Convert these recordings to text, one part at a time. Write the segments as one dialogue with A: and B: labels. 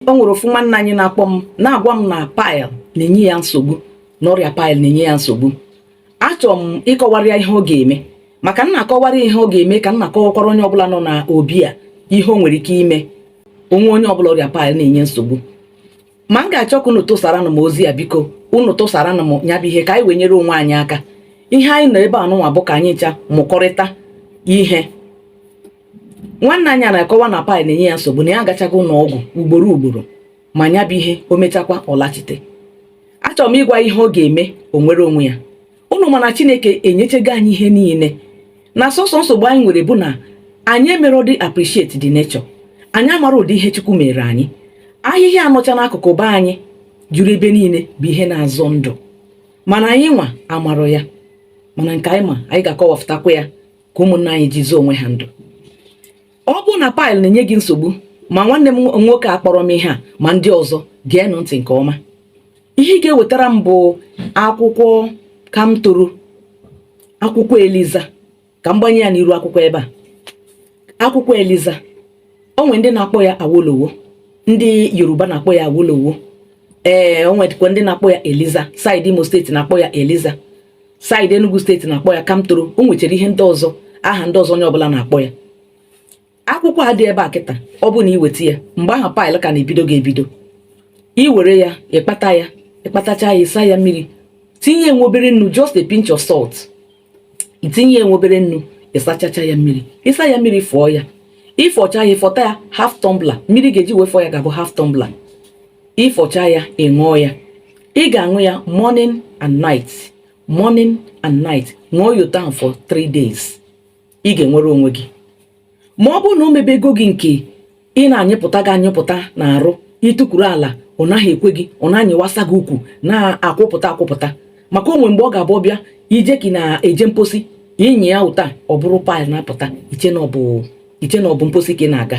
A: o nwere ofu nwanne anyị na-akpọ m na-agwa m na pile na-enye ya nsogbu na ọrịa pile na-enye ya nsogbu achọrọ m ịkọwara ya ihe ọ ga-eme ma ka m na-akọwara ihe ọ ga-eme ka m na-akọwakwara onye ọbụla nọ na obi a ihe o nwere ike ime o nwee onye ọbụla ọrịa pile na-enye nsogbu ma m ga-achọ ka unu tụsaranụ m ozi a biko unu tụsaranụ m ya bụ ihe ka anyị wee nyere onwe anyị aka ihe anyị nọ ebe a nụnwa bụ ka anyị ncha mụkọrịta ihe nwanne anyị na-akọwa na pile na-enye ya nsogbu na ya agachago ụlọ ọgwụ ugboro ugboro ma nya bụ ihe o mechakwa ọ lachite achọrọ m ịgwa ihe ọ ga-eme o nwere onwe ya unu ma na chineke enyechego anyị ihe niile na sọsọ nsogbu anyị nwere bụ na anyị emerodị appreciate the nature anyị amarọ ụdị ihe chukwu meere anyị ahịhịa nọcha n'akụkụ be anyị juru ebe niile bụ ihe na-azọ ndụ mana anyị nwa amarọ ya mana nke anyị ma anyị ga-akọwapụtakwa ya ka ụmụnna anyị ji zọọ onwe ha ndụ ọ bụrụ na pile na-enye gị nsogbu ma nwanne m nwoke a kpọrọ m ihe a ma ndị ọzọ geenụ ntị nke ọma ihe ị ga-ewetara m bụ akwụkwọ kamtoro akwụkwọ eliza ka m gbanye ya n'iru akwụkwọ ebe a akwụkwọ eliza o nwee ndị na-akpọ ya awolowo ndị yoruba na-akpọ ya awolowo ee o nwedịkwa ndị na-akpọ ya eliza side imo state na-akpọ ya eliza side Enugu state na-akpọ ya Kamtoro o nwechara ihe ndị ọzọ aha ndị ọzọ onye ọbụla na-akpọ ya akwụkwọ a dị ebe a kịta ọ bụ na i weta ya mgbe ahụ pile ka na-ebido gị ebido i were ya ị kpata ya ị kpatacha ya ị saa ya mmiri tinye nwa obere nnu just a pinch of salt i tinye nwa obere nnu ị sachacha ya mmiri ị saa ya mmiri fụọ ya ị fọcha ya ị fọta ya half tumbler mmiri ị ga-eji wee fọ ya ga-abụ half tumbler ị fọcha ya ị ṅụọ ya ị ga-aṅụ ya morning and night morning and night ṅụọ ya otu a for three days ị ga-enwere onwe gị ma ọ bụrụ na o mebego gị nke ị na-anyịpụta gị anyịpụta na arụ i tukwuru ala ọ naghị ekwe gị ọ na-anyịwasa gị ukwu na-akwụpụta akwụpụta maka o nwee mgbe ọ ga-abụ ọ bịa i jee ka ị na-eje mposi ị nyịa otu a ọ bụrụ pile na-apụta i chee na ọ bụ mposi ka ị na-aga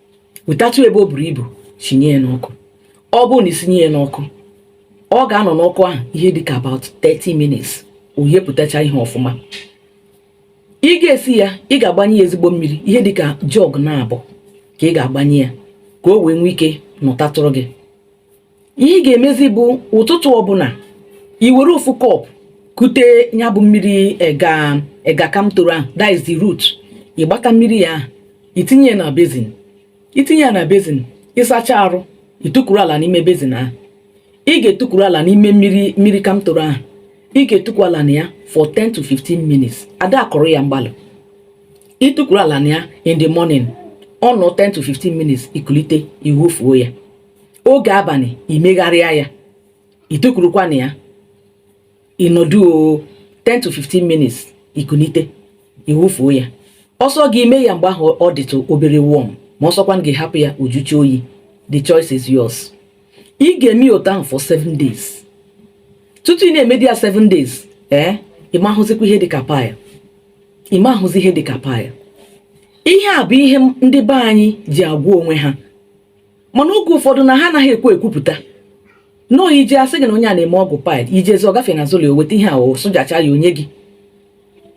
A: wetatụ ebe o buru ibu sinye ya n'ọkụ ọ bụrụ na i sinye ya n'ọkụ ọ ga-anọ n'ọkụ ahụ ihe dịka about 30 minutes o yepụtacha ihe ọfụma ị ga-esi ya ị ga-agbanye ya ezigbo mmiri ihe dịka jug naabọ ka ị ga-agbanye ya ka o wee nwee ike nọtatụrụ gị ihe ị ga-emezi bụ ụtụtụ ọbụla i were ofu cup kute ya bụ mmiri ega ega kamtoro ahụ that is the root ịgbata mmiri ya ahụ itinye ya na bezin itinye ya na bezin ịsacha arụ i tukwuru ala n'ime bezin ahụ ị ga-etukwuru ala n'ime mmiri mmiri kamtoro ahụ ị ga-etukwu ala na ya for 10 to 15 minutes ada akọrọ ya mgbalụ i tukwuru ala na ya in the morning ị nọọ 10 to 15 minutes i kulite i wufuo ya oge abalị i megharịa ya i tukwurukwa na ya ị nọdụ 10 to 15 minutes i kunite i wufuo ya ọ sọ gị i mee ya mgbe ahụ ọ dịtụ obere warm ma ọ sọkwa gị hapụ ya ọ jụchaa oyi the choice is yours ị ga-eme ya otu ahụ for 7 days tutu ị na-emedi ya 7 days ee eh, ị ma-ahụzikwa ihe dịka pile ị ma-ahụzi ihe dịka pile ihe a bụ ihe ndị be anyị ji agwa onwe ha mana oge ụfọdụ na ha anaghị ekwe ekwupụta nọọ i jee a sị gị na onye a na-eme ọgwụ pile i jezie ọ gafee n'azụ ụlọ o weta ihe a o sụjacha ya o nye gị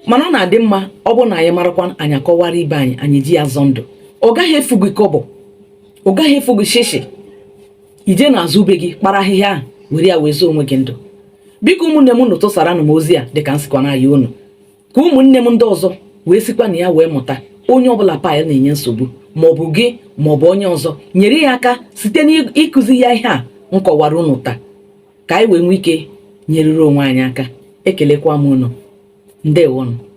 A: mana ọ na-adị mma ọ bụ na anyị marakwa anyị akọwara ibe anyị anyị ji ya zọọ ndụ ọ gaghị efu gị kọbọ ọ gaghị efu gị shishi i jee n'azụ be gị kpara ahịhịa ahụ were ya wee zọọ onwe gị ndụ biko ụmụnne m unu tụsaranụ m ozi a dịka m sikwa na-ayọ unu ka ụmụnne m ndị ọzọ wee sikwa na ya wee mụta onye ọbụla pile na-enye nsogbu maọbụ gị maọbụ onye ọzọ nyere ya aka site n'ịkụzi ya ihe a m kọwara unu taa ka anyị wee nwee ike nyerere onwe anyị aka ekelekwa m unu ndewonụ